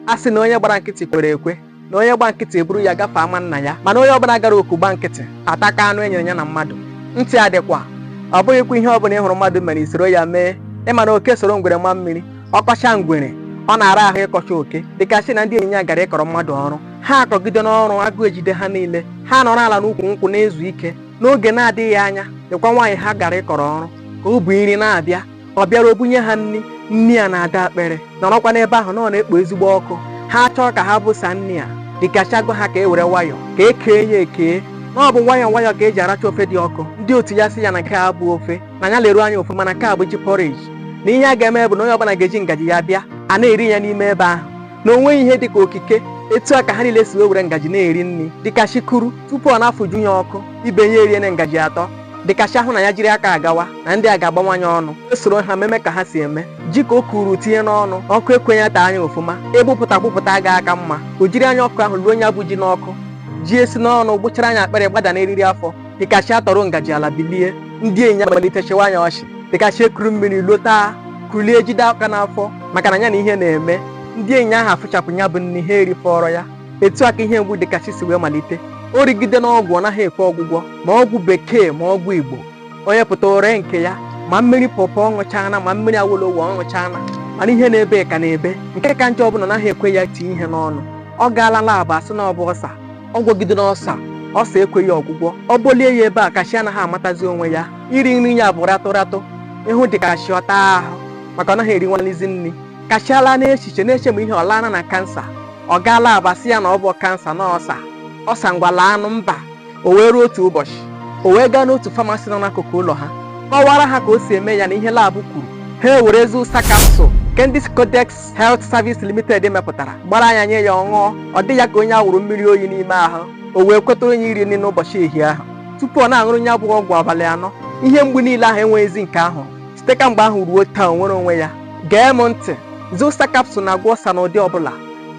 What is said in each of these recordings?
a sị na onye gbara nkịtị kwere ekwe na onye gba nkịtị eburu ya gafee ama nna ya mana onye ọbụla gara oku gba nkịtị ataka anụ enyere ya na mmadụ ntị adịkwa ọ bụghịkwa ihe ọbụla ị hụrụ mmadụ mere isoro ya mee ịma na oke soro ngwere ma mmiri ọkọcha ngwere ọ na-ara ahụ ịkọcha oke dịkachi na ndị enyi ya gara ịkọrọ mmadụ ọrụ ha akọgide n'ọrụ agụụ ejide ha niile ha nọrọ ala n'ukwu nkwụ na-ezu ike n'oge na-adịghị anya lekwa nwaanyị ha gara ịkọrọ ọrụ ka o bu nri na-abịa ọ bịara o bunye ha nri nri a na-ada akpere nọrọkwa n'ebe ahụ na ọ na-ekpo ezigbo ọkụ ha chọọ ka ha bụsa nri a dịkachi agwa ha ka e were nwayọ ka e kee ya ekee na ọ bụ nwayọ nwayọ ka e ji aracha ofe dị ọkụ ndị otu ya sị ya na nke a bụ ofe na ya leruo anya ọfụma na nke a bụ ji porridge na ihe a ga-eme bụ na onye ọbụla ga-eji ngaji ya bịa a na-eri ya n'ime ebe ahụ na o nweghị ihe dị ka okike etu a ka ha niile si wee were ngaji na-eri nri dịkachi kuru tupu ọ na-afụjụ ya ọkụ ibe ya eriene ngaji atọ dịkachi ahụ na ya jiri aka agawa na ndị a ga-agbawa nya ọnụ o soro ha meme ka ha si eme ji ka o kuru tinye n'ọnụ ọkụ ekwe nya taa nya ọfụma ịgbụpụta agbụpụta aga aka mma o jiri anya ọkụ ahụ luo nya bụ ji n'ọkụ ji esi n'ọnụ gbuchara nya akpịrị gbada n'eriri afọ dịkachi atọrọ ngaji ala bilie ndị enyi ya malite chịwa nya ọchị dịkachi ekuru mmiri luo taa kulie jide aka n'afọ maka na ya na ihe na-eme ndị enyi ahụ afụchapụ ya bụ nri ha erifọrọ ya etu a ka ihe mgbu dịkachi si wee malite o rigidene ọgwụ ọ naghị ekwe ọgwụgwọ ma ọgwụ bekee ma ọgwụ igbo onye pụta o ree nke ya ma mmiri pọpọ ọ ṅụchaana ma mmiri awolowo ọ ṅụchaana mana ihe na-ebe ka na-ebe nke ka njọ bụ na ọ naghị ekwe ya tinye ihe n'ọnụ ọ gaala labụ a sị na ọ bụ ọsa ọ gwọgidena ọsa ọsa ekweghị ọgwụgwọ ọ bọlie ya ebe a kachi anaghị amatazi onwe ya iri nri ya bụ ratụ ratụ ị hụ dịkachi ọ taa ahụ maka ọ naghị erinwalizi nri kachi alaa n'echiche na-eche ma ihe ọ laana na kansa ọ gaa lab a sị ya na ọ bụ kansa na ọ ọsa ọsa ngwa laanụ mba o wee ruo otu ụbọchị o wee gaa n'otu famasi nọ n'akụkụ ụlọ ha kọwara ha ka o si eme ya na ihe labụ kwuru ha ewere zụsa kapsụl nke ndị Scodex Health Service Limited mepụtara gbara anya nye ya ọ ṅụọ ọ dị ya ka onye awụrụ mmiri oyi n'ime ahụ o wee kweta onye iri nri n'ụbọchị ehihie ahụ tupu ọ na-aṅụrụ ya bụ ọgwụ abalị anọ ihe mgbu niile ahụ enweghịzi nke ahụ site ka mgbe ahụ ruo taa o nwere onwe ya gee m ntị zụsa kapsụl na-agwọ ọsa n'ụdị ọbụla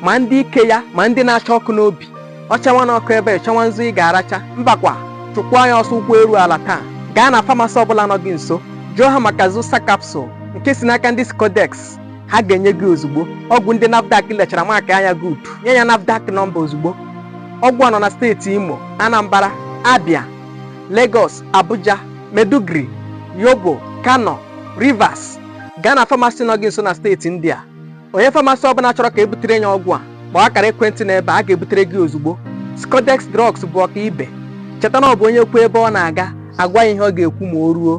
ma ndị ike ya ma ndị na-acha ọkụ n'obi ọ chawa na ọkụ ebe ị chọwa nzu ị ga-aracha mbakwa chụkwaa ya ọsọ ụkwụ eru ala taa gaa na famasi ọbụla nọ gị nso jụọ ha maka zụsa kapsụl nke si n'aka ndị Scodex ha ga-enye gị ozugbo ọgwụ ndị NAFDAC lechara maakịa nya good nye ya NAFDAC nọmba ozugbo ọgwụ a nọ na steeti Imo Anambra Abia Lagos, Abuja, Maiduguri, Yobe, Kano, Rivers gaa na pharmacy nọ gị nso na steeti ndị a onye pharmacy ọbụla chọrọ ka ebutere ya ọgwụ a kpọọ akara ekwentị na ebe a ga-ebutere gị ozugbo Scodex Drugs bụ ọka ibe cheta na ọ bụ onye kwuo ebe ọ na-aga agwa ya ihe ọ ga-ekwu ma o ruo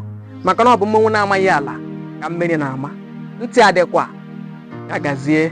maka na ọ bụ mmọnwụ na-amaghị ala ka mmiri na-ama ntị adịkwa ya gazie